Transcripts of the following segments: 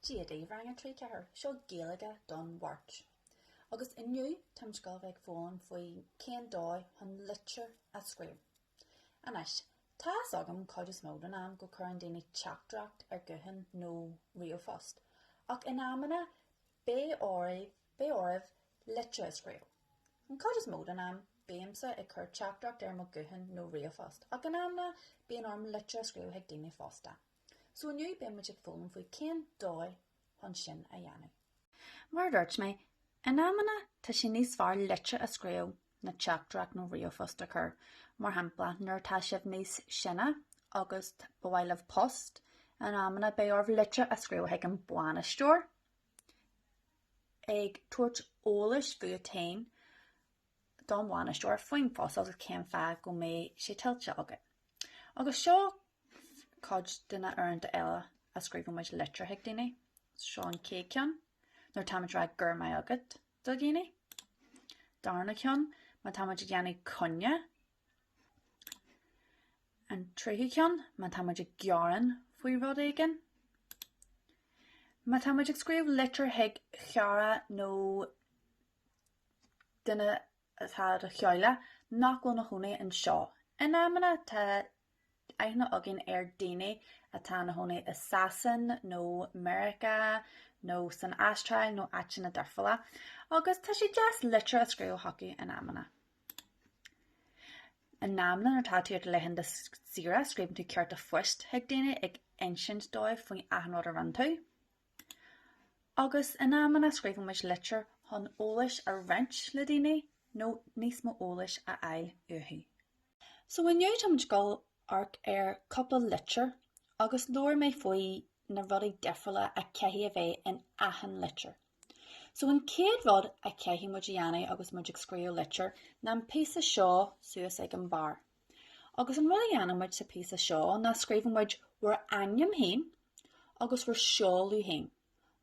Dia daoibh Rang a 3 4. Seo Gaeilge don Mháirt. Agus inniu tá muid ag gabháil a bheith ag foghlaim faoi cén dóigh chun litir a scríobh. Anois, tá fhios agam cuid is mó den am go cuireann daoine teachtaireacht ar guthán nó ríomhphost, ach in amanna beidh oraibh litir a scríobh. An cuid is mó den am, bímse ag cur teachtaireacht ar mo guthán nó ríomhphost, ach in amanna bíonn orm litir a scríobh chuig daoine fosta. So inniu beidh muid ag foghlaim faoi cén dóigh chun sin a dhéanamh. Mar a dúirt mé, in amanna tá sé níos fearr litir a scríobh ná teachtaireacht nó ríomhphost a chur. Mar shampla, nuair atá sibh níos sine agus ba mhaith libh post, in amanna beidh oraibh litir a scríobh chuig an bainisteoir ag tabhairt eolais fút féin don bhainisteoir faoin phost agus cén fáth go mbeidh sé tuillte agat. Agus seo cuid de na uaireanta eile a scríobhann muid litir chuig daoine, seo an chéad ceann, nuair táimid ag rá go raibh maith agat do dhaoine. Darna ceann, má táimid ag déanamh coinne. An tríú ceann, má táimid ag gearán faoi rud éigin. Má táimid ag scríobh litir chuig chara nó duine atá i do theaghlach nach bhfuil ina chónaí anseo. In amanna tá aithne againn ar dhaoine atá ina chónaí i Sasain nó Meiriceá nó san Astráil nó áiteanna difriúla agus tá sé deas litir a scríobh chucu in amanna. In amanna nuair atá tú ar do laethanta saoire scríobhann tú cárta phoist chuig daoine ag insint dóibh faoi achan rud a rinne tú. Agus in amanna scríobhann muid litir chun eolais a roinnt le daoine nó níos mó eolais a fháil uathu. So inniu táimid ag gabháil a amharc ar chúpla litir agus labhair mé faoi na rudaí difriúla a chaithfidh a bheith in achan litir. So an chéad rud a chaithfidh muid a dhéanamh agus muid ag scríobh litir ná an píosa seo suas ag an barr. Agus an rud a dhéanann muid sa phíosa seo ná scríobhann muid bhur ainm féin agus bhur seoladh féin,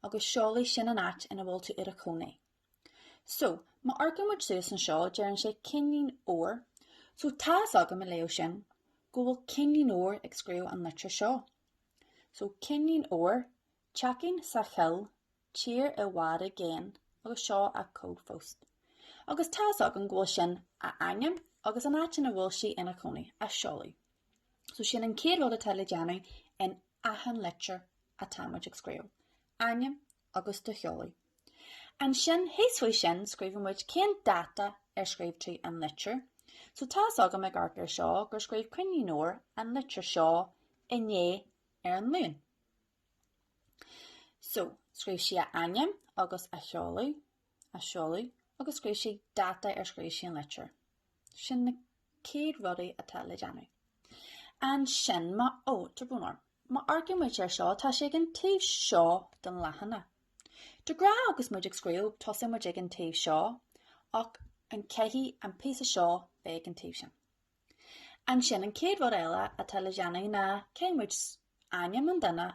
agus seoladh, sin an áit ina bhfuil tú i do chónaí. So, má amharcann muid suas anseo, deireann sé Cinnín Óir, so tá's agam ag léamh sin go bhfuil Cinnín Óir ag scríobh an litir seo. So, Cinnín Óir, teachín sa choill tír i bhfad i gcéin agus seo a cód phoist. Agus tá's agam go bhfuil sin a ainm agus an áit ina bhfuil sí ina cónaí, a seoladh. So sin an chéad rud atá le déanamh in achan litir atá muid ag scríobh, ainm agus do sheoladh. Ansin thíos faoi sin scríobhann muid cén dáta ar scríobh tú an litir. So tá's agam ag amharc ar seo gur scríobh Cinnín Óir an litir seo inné ar an Luan. So, scríobh sí a ainm agus a sheoladh, a seoladh, agus scríobh sí dáta ar scríobh sí an litir. Sin na céad rudaí atá le déanamh. Ansin má ó, tá brón orm, má amharcann muid ar seo, tá sé ag an taobh seo den leathanach. De ghnáth agus muid ag scríobh, tosaíonn muid ag an taobh seo, ach an caithfidh an píosa seo bheith ag an taobh sin? Ansin, an chéad rud eile atá le déanamh ná caithfidh muid ainm an duine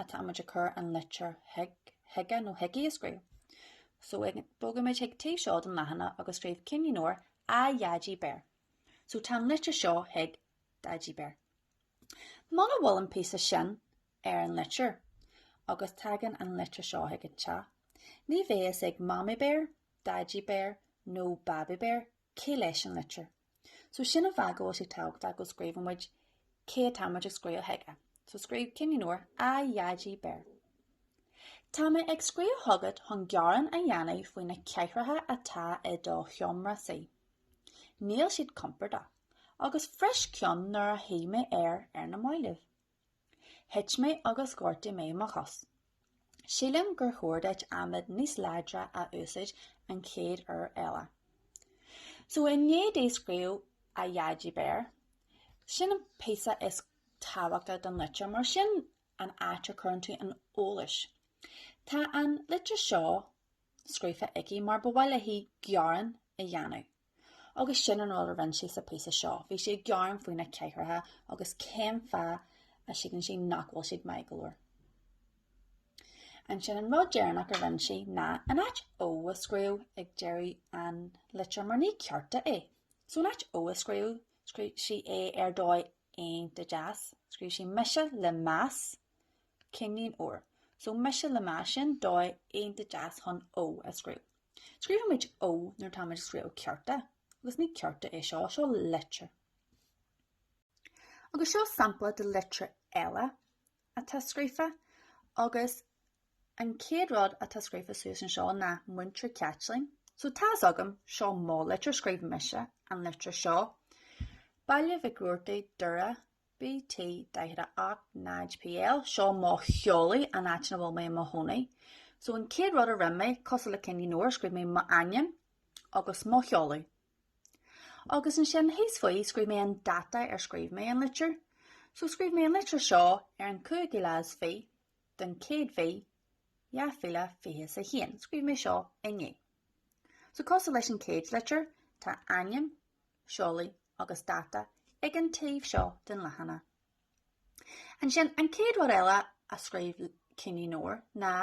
atá muid ag cur an litir chuige nó chuici a scríobh. So, bogfaimid chuig taobh seo den leathanach agus scríobh Cinnín Óir A Dhaidí Béar. So, tá an litir seo chuig Daidí Béar. Muna bhfuil an píosa sin ar an litir agus tagann an litir seo chuig an teach, ní bheidh a fhios ag Mamaí Béar, Daidí Béar nó Babaí Béar Cé leis an litir? So sin an fáth go bhfuil sé tábhachtach go scríobhann muid cé atá muid ag scríobh chuige. So scríobh Cinnín Óir, A Dhaidí Béar. Tá mé ag scríobh chugat chun gearán a dhéanamh faoi na cathaoireacha atá i do sheomra suí. Níl siad compordach, agus bhris ceann nuair a shuigh mé air ar na mallaibh. Thit mé agus ghortaigh mé mo chos. Sílim gur chóir duit adhmad níos láidre a úsáid an chéad uair eile. So i ndiaidh di scríobh A Dhaidí Béar, sin an píosa is tábhachtaí den litir mar sin an áit a chuireann tú an eolais. Tá an litir seo scríofa aici mar ba mhaith léi gearán a dhéanamh. Agus sin an rud a rinne sí sa phíosa seo. Bhí sí ag gearán faoi na cathaoireacha agus cén fáth a síleann sí nach bhfuil siad maith go leor. Ansin an rud deireanach a rinne sí ná in áit Ó a scríobh ag deireadh an litir mar ní cárta é. So in áit Ó a scríobh, scríobh sí é ar dóigh iontach deas. Scríobh sí mise le meas Cinnín Óir. So mise le meas sin, dóigh iontach deas chun Ó a scríobh. Scríobhann muid Ó nuair atáimid ag scríobh cárta, agus ní cárta é seo, seo litir. Agus seo sampla de litir eile atá scríofa, agus an chéad rud atá scríofa suas anseo ná Múinteoir Caitlín. So tá fhios agam, seo mo litir, scríobh mise an litir seo. Baile Mhic Robhartaigh, Doire, BT 48 0 PL, Seo mo sheoladh, an áit ina bhfuil mé i mo chónaí. So an chéad rud a rinne mé, cosúil le Cinnín Óir, scríobh mé m'ainm agus mo sheoladh. Agus ansin thíos faoi scríobh mé an dáta ar scríobh mé an litir. So scríobh mé an litir seo ar an 5ú lá is fiche den chéad mhí, 2021. Scríobh mé seo inné. So cosúil leis an chéad litir, tá ainm, seoladh agus dáta ag an taobh seo den leathanach. Ansin, an chéad rud eile a scríobh Cinnín Óir ná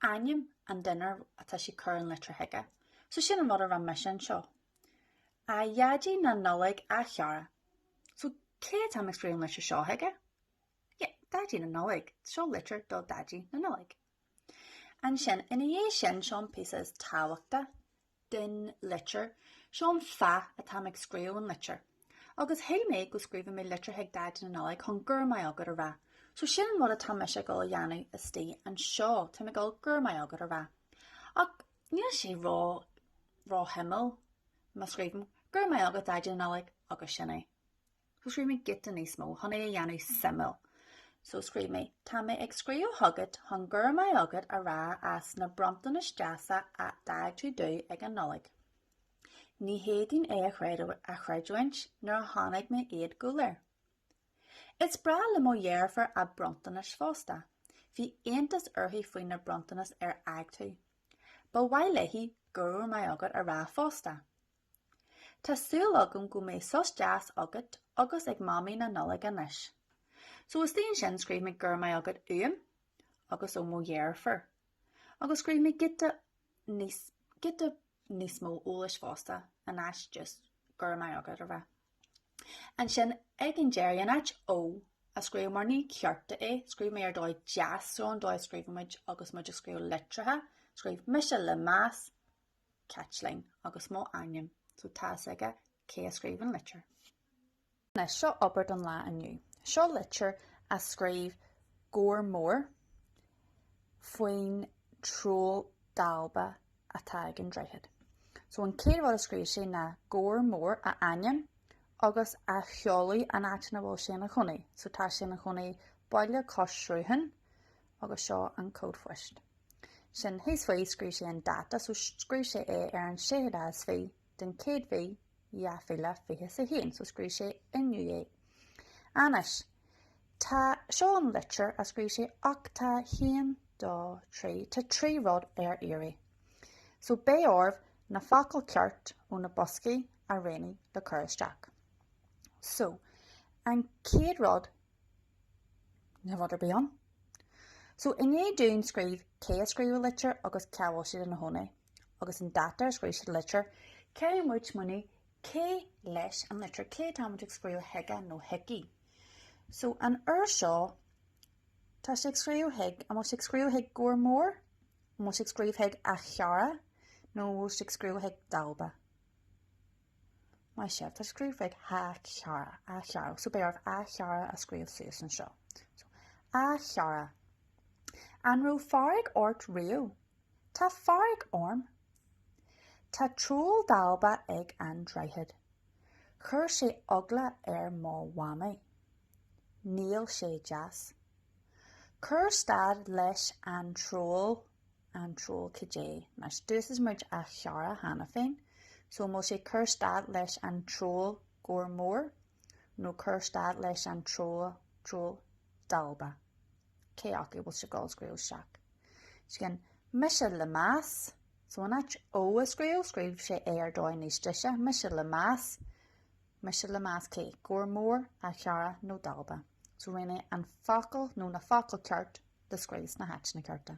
ainm an duine ar atá sí ag cur an litir chuige. So sin an rud a rinne mise anseo. A Dhaidí na Nollaig a chara. So cé atá mé ag scríobh an litir seo chuige? Yeah, Daidí na Nollaig. Seo litir do Daidí na Nollaig. Ansin ina dhiaidh sin, seo an píosa is tábhachtaí den litir, seo an fáth atáim ag scríobh an litir. Agus shíl mé go scríobhfadh mé litir chuig Daidí na Nollaig chun Go raibh maith agat a rá. So sin an rud atá mise ag dul a dhéanamh istigh anseo, táim ag dul Go raibh maith agat a rá. Ach níl sé ró-shuimiúil má scríobhaim Go raibh maith agat Daidí na Nollaig agus sin é. So scríobh mé giota níos mó chun é a dhéanamh suimiúil. So scríobh mé, Tá mé ag scríobh chugat chun Go raibh maith agat a rá as na bronntanais deasa a d'fhág tú domh ag an Nollaig. Ní fhéadfainn é a chreidiúint nuair a chonaic mé iad go léir. Is breá le mo dheirfiúr a bronntanais fosta. Bhí iontas uirthi faoi na bronntanais ar fhág tú. Ba mhaith léi Go raibh maith agat a rá fosta. Tá súil agam go mbeidh sos deas agat agus ag Mamaí na Nollaig anois. So istigh ansin scríobh mé Go raibh maith agat uaim agus ó mo dheirfiúr. Agus scríobh mé giota níos, giota níos mó eolais fosta in áit just Go raibh maith agat a rá. Ansin ag an deireadh, in áit Ó a scríobh mar ní cárta é, scríobh mé Ar dóigh deas, so an dóigh a scríobhann muid agus muid ag scríobh litreacha, scríobh mise le meas, Caitlín, agus mo ainm, so tá a fhios aige cé a scríobh an litir. Anois, seo obair don lá inniu. Seo litir a scríobh Gabhar Mór faoin troll dalba atá ag an droichead. So an chéad rud a scríobh sé ná Gabhar Mór, a ainm, agus a sheoladh, an áit ina bhfuil sé ina chónaí. So tá sé ina chónaí baile cois srutháin, agus seo an cód phoist. Sin thíos faoi, scríobh sé an dáta, so scríobh sé é ar an 6ú lá is fiche den chéad mhí, 2021, so scríobh sé inniu é. Anois, tá, seo an litir a scríobh sé, ach tá haon, dó, trí, tá trí rud ar iarraidh. So beidh oraibh na focail ceart ó na boscaí a roghnú le cur isteach. So, an chéad rud Ní rud ar bith ann. So ní gá dúinn scríobh cé a scríobh an litir agus cá bhfuil siad ina chónaí. Agus an dáta ar scríobh siad an litir, caithfidh muid smaoineamh cé leis an litir, cé atá muid ag scríobh chuige nó chuici. So an uair seo tá sé ag scríobh chuig, an bhfuil sé ag scríobh chuig Gabhar Mór? An bhfuil sé ag scríobh chuig A chara? Nó an bhfuil sé ag scríobh chuig Dalba? Maith sibh, tá sé ag scríobh chuig A chara, A chara, so beidh oraibh A chara a scríobh suas anseo. So, A chara, an raibh fearg ort riamh? Tá fearg orm. Tá troll dalba ag an droichead. Chuir sé eagla ar mo mhamaí. Níl sé deas. Cuir stad leis an troll. an troll cad é? Anois d'úsáid muid A chara cheana féin, so an bhfuil sé cuir stad leis an troll Gabhar Mór nó cuir stad leis an troll troll dalba? Cé acu bhfuil sé ag dul a scríobh isteach? Ansin, mise le meas, so in áit Ó a scríobh, scríobh sé é ar dhóigh níos deise, mise le meas, mise le meas cé, Gabhar Mór, A chara nó dalba. So roghnaigh an focal nó na focail ceart le scríobh sna háiteanna cearta.